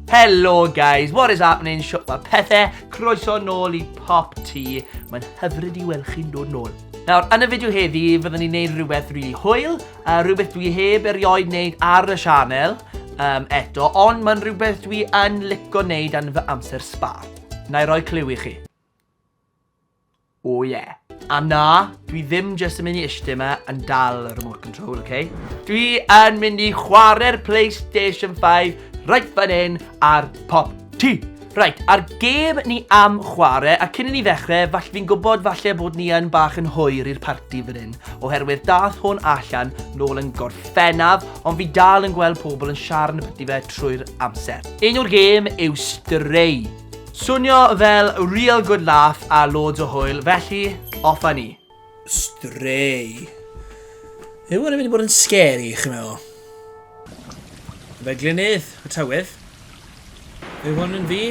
Hello guys, what is happening? Siwt mae pethau, croeso nôl i Pop Tea. Mae'n hyfryd i weld chi'n dod nôl. Nawr, yn y fideo heddi, fyddwn ni'n neud rhywbeth rili really hwyl, uh, rhywbeth dwi heb erioed neud ar y sianel um, eto, ond mae'n rhywbeth dwi yn lico neud yn fy amser sbar. Na i roi clyw i chi. Oh yeah. A na, dwi ddim jyst yn mynd i ishte yma yn dal y remote control, ok? Dwi yn mynd i chwarae'r PlayStation 5 right fan hyn ar pop ti! Right, a'r gêm ni am chwarae, a cyn i ni ddechrau, falle fi'n gwybod falle bod ni yn bach yn hwyr i'r parti fan hyn, oherwydd dath hwn allan nôl yn gorffennaf, ond fi dal yn gweld pobl yn siarad yn y parti fe trwy'r amser. Un o'r gêm yw Stray. Swnio fel real good laugh a loads o hwyl, felly, off a ni. Stray. Yw hwnna'n mynd i bod yn scary, chi'n meddwl? Fe glynydd, y tywydd. Yw hwn yn fi?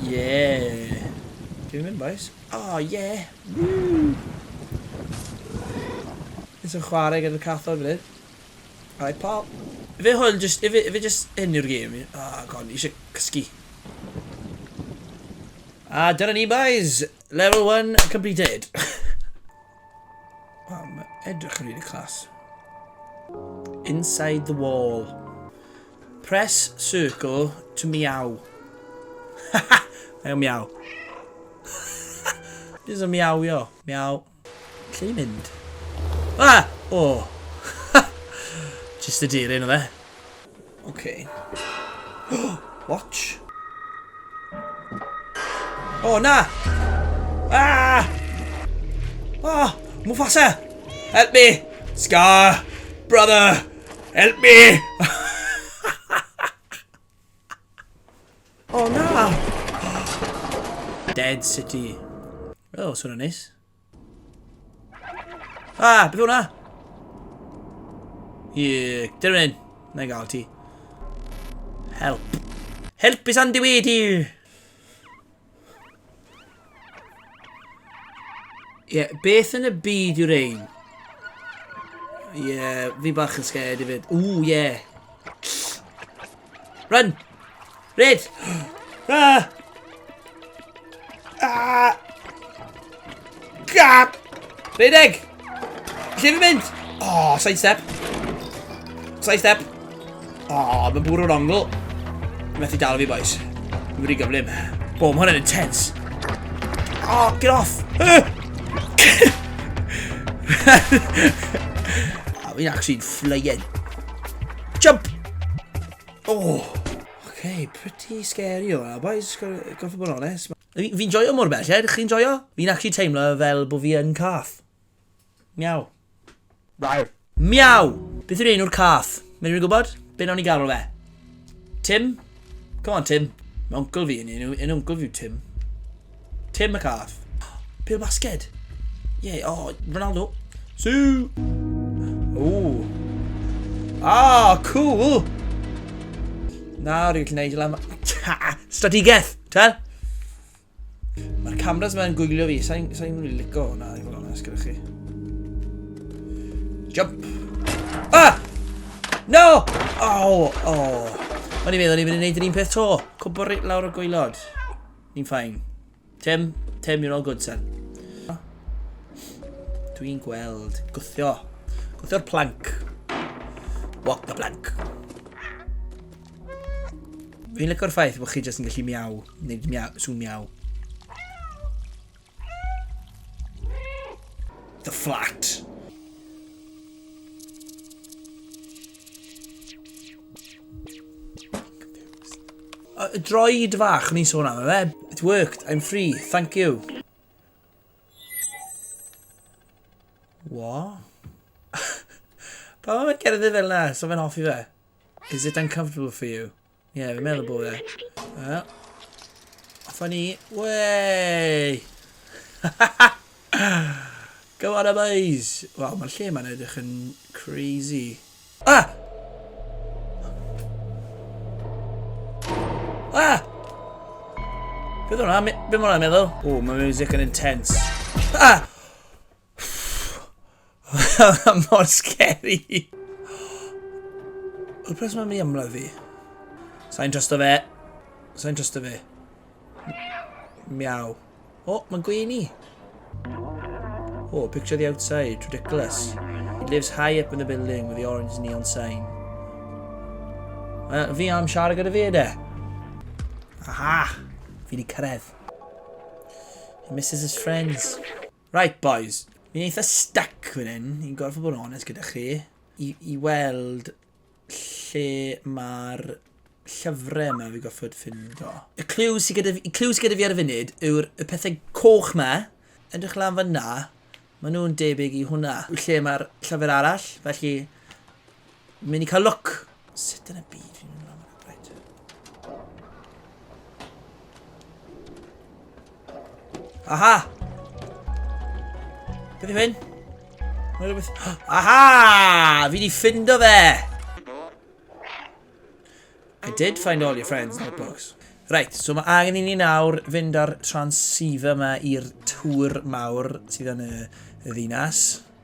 Yeah. Dwi'n mynd, boys. Oh, yeah. Woo! Nes yn chwarae gyda'r cathod fan hyn. Hi pawb. Ife hwn jyst... Ife, ife jyst hyn yw'r gêm? Ah, god, ni eisiau cysgu. A dyna ni, boys! Level 1 completed. Wel, mae edrych yn rili clas. Inside the wall. Press circle to meow. Haha! Mae'n miaw. Jyst yn miawio. Miaw. Lle i mynd? Ah! O! Ha! Jyst y deirin o fe. Oce. Watch. O, na! Ah! Ah! Mufasa! Help me! Scar! Brother! Help me! O oh, na! Dead City. O, oh, swn o'n neis. Ah, beth hwnna? Ie, dyn nhw'n un. Na i gael ti. Help. Help is on the way dear. Ie, yeah, beth yn y byd yw'r ein? Ie, yeah, fi bach yn scared i fyd. Ooh, ie. Yeah. Run! Red! Ah! Ah! Gap! Redeg! Lle fi'n mynd? O, oh, side step. Side step. O, oh, mae'n bwrw'r ongl. Mae'n methu dal fi, boys. Mae'n wedi gyflym. Bo, mae hwnna'n intense. O, oh, get off. A fi'n actually'n fflygen. Jump! Oh! Okay, pretty scary o hwnna, boys. Goffo bod yn onest. Fi, fi'n joio mor belled, chi'n joio? Fi'n actually teimlo fel bod fi yn cath. Miaw. Rawr. Miaw! Beth yw'r enw'r cath? Mae rhywun gwybod? Be nawn ni galw fe? Tim? Come on, Tim. Mae oncl fi yn enw, yn oncl fi yw Tim. Tim y cath. Pil basged. Ie, yeah, oh, Ronaldo. Sue! Ooh. Ah, cool! Nawr, dwi'n gallu neud i lan... Stadigaeth! Ta? Mae'r cameras mae'n gwylio fi, sa'n sa rili lico hwnna, i fod onest gyda chi. Jump! Ah! No! Oh, oh. O'n i'n meddwl ni'n mynd i wneud yr un peth to. Cwbwr lawr y gwylod. Ni'n ffain. Tim, Tim, you're all good, son. Dwi'n gweld gwthio. Gwthio'r plank. Walk the plank. Fi'n licio'r ffaith bod chi jyst yn gallu miaw, neu miaw, sŵn miaw. The flat. Y droed fach, ni'n sôn am e, fe. It worked, I'm free, thank you. What? Pa mae'n cerdded fel na, so fe'n hoffi fe? Is it uncomfortable for you? Ie, yeah, fi'n meddwl bod e. Wel, offa ni. Wey! Go on, boys! Wel, mae'r lle mae'n edrych yn crazy. Ah! Ah! Beth o'na? Beth o'na meddwl? O, mae music yn intense. Ah! Mor scary! Y pres mae'n mynd i ymlaen fi. Sa'n trust o fe. Sa'n trust o fe. Miaw. O, oh, mae'n gweini. Oh, picture the outside. Ridiculous. It lives high up in the building with the orange neon sign. Uh, fi am siarad gyda fi yna. Aha! Fi di cyrraedd. He misses his friends. Right boys, fi'n eitha stuck fan hyn, i'n gorfod bod yn onest gyda chi, i, i weld lle mae'r llyfrau yma fi goffod ffindo. Y clyw sydd gyda, y clyw sydd gyda fi ar y funud yw'r y pethau coch ma, edrych lan fan na, maen nhw'n debyg i hwnna. Lle mae'r llyfr arall, felly Mynd i cael look. Sut yn y byd fi'n mynd lan fyna? Right. Aha! Beth yw hyn? Aha! Fi di ffindo fe! I did find all your friends in the books. Right, so mae angen i ni nawr fynd ar transceiver yma i'r tŵr mawr sydd yn y ddinas.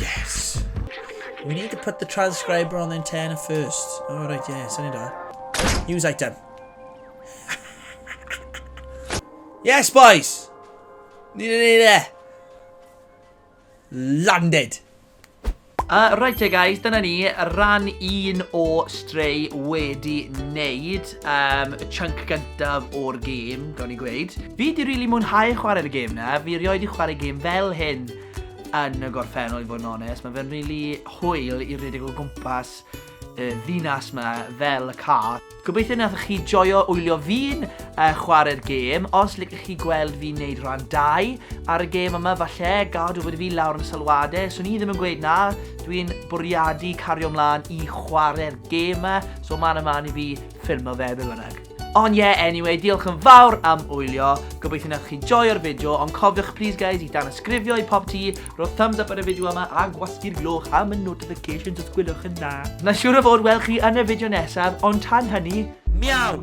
Yes! We need to put the transcriber on the antenna first. Oh, right, yeah, send it on. News item. yes, boys! Need it, need it. Landed. Uh, right there guys, dyna ni, ran un o Stray wedi wneud um, y chunk gyntaf o'r gêm, gawn ni gweud. Fi di rili really mwynhau chwarae'r gêm na, fi rioed i chwarae gêm fel hyn yn y gorffennol i fod yn onest. Mae fe'n rili hwyl i redeg o gwmpas y ddinas yma fel y ca. Gobeithio nathoch chi joio wylio fi'n uh, chwarae'r gêm. Os licech chi gweld fi'n neud rhan 2 ar y gêm yma, falle gadw bod fi lawr yn sylwadau. Swn i ddim yn gweud na, dwi'n bwriadu cario mlaen i chwarae'r gêm yma, so man ymlaen i fi ffilmo fe be bynnag. Ond ie, anyway, diolch yn fawr am wylio. Gobeithio nath chi joio'r fideo, ond cofiwch please guys i danysgrifio i pop ti, rho thumbs up ar y fideo yma a gwasgu'r gloch am y notifications os gwylwch yn dda. Na siwr o fod wel chi yn y fideo nesaf, ond tan hynny, miaw!